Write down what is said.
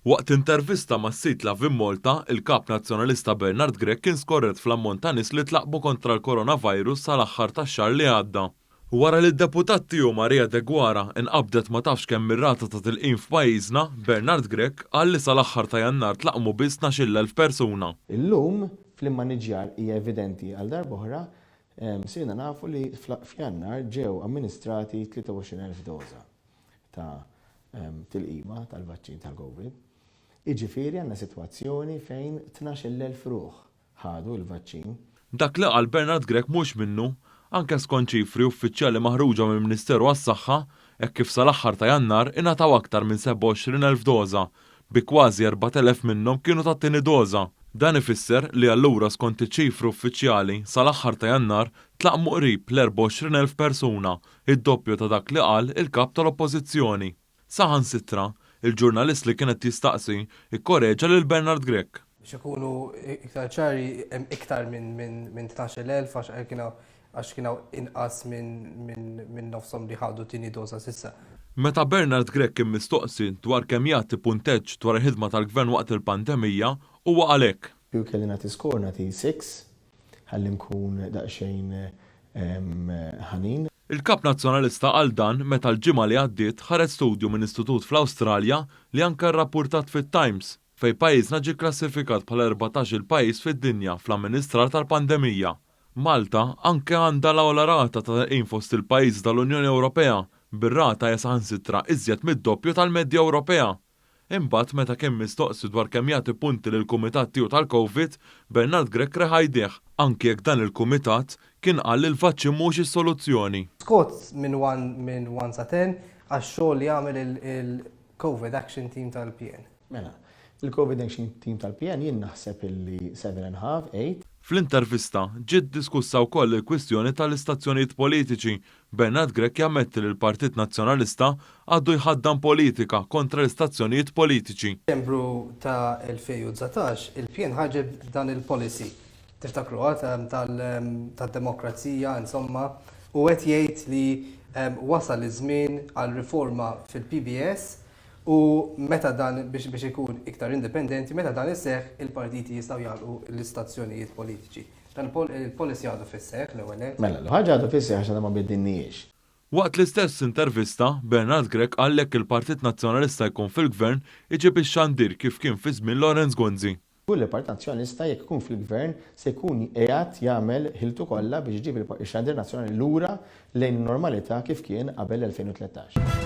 Waqt intervista mas-sit Loveinmalta, il-Kap Nazzjonalista Bernard Grech kien skorret fl-ammont ta' nies li tlaqqbu kontra l-Coronavirus sal-aħħar tax-xahar li għadda. Wara li d-deputat tiegħu Maria Deguara inqabdet ma tafx kemm ir-rata ta' tilqim f'pajjiżna, Bernard Grech qal li sal-aħħar ta' Jannar tlaqqmu biss tnax-il elf persuna. Illum, fl-immaniġġjar hija evidenti għal darb'oħra Sirna nafu li f'Jannar ġew amministrati 23,000 doża ta' tilqima tal-vaċċin tal-Covid. Jiġifieri għandna sitwazzjoni fejn 12,000 ruħ ħadu l-vaċċin. Dak li qal Bernard Grech mhux minnu. Anke skont ċifri uffiċjali maħruġa mill-Ministeru għas-Saħħa, hekk kif sal-aħħar ta' Jannar ingħataw aktar minn 27,000 doża bi kważi 4,000 minnhom kienu tat-tieni doża. Dan ifisser li allura skont iċ-ċifri uffiċjali sal-aħħar ta' Jannar tlaqqmu qrib l-24,000 persuna, id-doppju ta' dak li qal il-Kap tal-Oppożizzjoni. Saħansitra, il-ġurnalist li kien qed jistaqsi kkoreġa lil Bernard Grech. Biex ikunu iktar ċari, hemm iktar minn tnax-il elf għax kien hawn għax kien hawn inqas minn nofshom li ħadu tieni doża s'issa. Meta Bernard Grech kien mistoqsi dwar kemm jagħti punteġġ dwar il-ħidma tal-Gvern waqt il-pandemija, huwa qal hekk. Kieku kelli nagħti score nagħti six ħalli nkun daqsxejn ħanin. Il-Kap Nazzjonalista qal dan meta l-ġimgħa li għaddiet ħareġ studju minn istitut fl-Awstralja li anke rrappurtat fit-Times fejn pajjiżna ġie kklassifikat bħala l-erbatax-il pajjiż fid-dinja fl-amministrar tal-pandemija. Malta anke għandha l-agħla rata ta' telqim fost il-pajjiżi tal-Unjoni Ewropea, bir-rata hija saħansitra iżjed mid-doppju tal-medja Ewropea. Imbagħad meta kien mistoqsi dwar kemm jagħti punti lill-kumitat tiegħu tal-Covid, Bernard Grech reħa jdejh, anke jekk dan il-kumitat kien qal li l-vaċċin mhuwiex is-soluzzjoni. Scott minn one minn one sa ten għax-xogħol li għamel il-Covid Action Team tal-PN. Mela, il-Covid Action Team tal-PN jien naħseb illi seven and half, eight. Fl-intervista, ġiet diskussa wkoll il-kwistjoni tal-istazzjonijiet politiċi. Bernard Grech jammetti li l-Partit Nazzjonalista għadu jħaddan politika kontra l-istazzjonijiet politiċi. F'Diċembru ta' 2019, il-PN ħarġet b'dan il-policy, tiftakruha, tad-demokrazija, insomma, u qed jgħid li wasal iż-żmien għal riforma fil-PBS u meta dan, biex ikun iktar indipendenti, meta dan iseħħ, il-partiti jistgħu jagħlqu l-istazzjonijiet politiċi. Dan il-policy għadu fis-seħħ, l-ewwel nett. Mela, l-ħaġa għadha fis-seħħ għax għadha ma biddilnihiex. Waqt l-istess intervista, Bernard Grech qal jekk il-Partit Nazzjonalista jkun fil-Gvern, iġib ix-xandir kif kien fi żmien Lawrence Gonzi. Kull il-Partit Nazzjonalista jekk ikun fil-Gvern se jkun qiegħed jagħmel ħiltu kollha biex iġib ix-xandir nazzjonali lura lejn in-normalità kif kien qabel l-2013.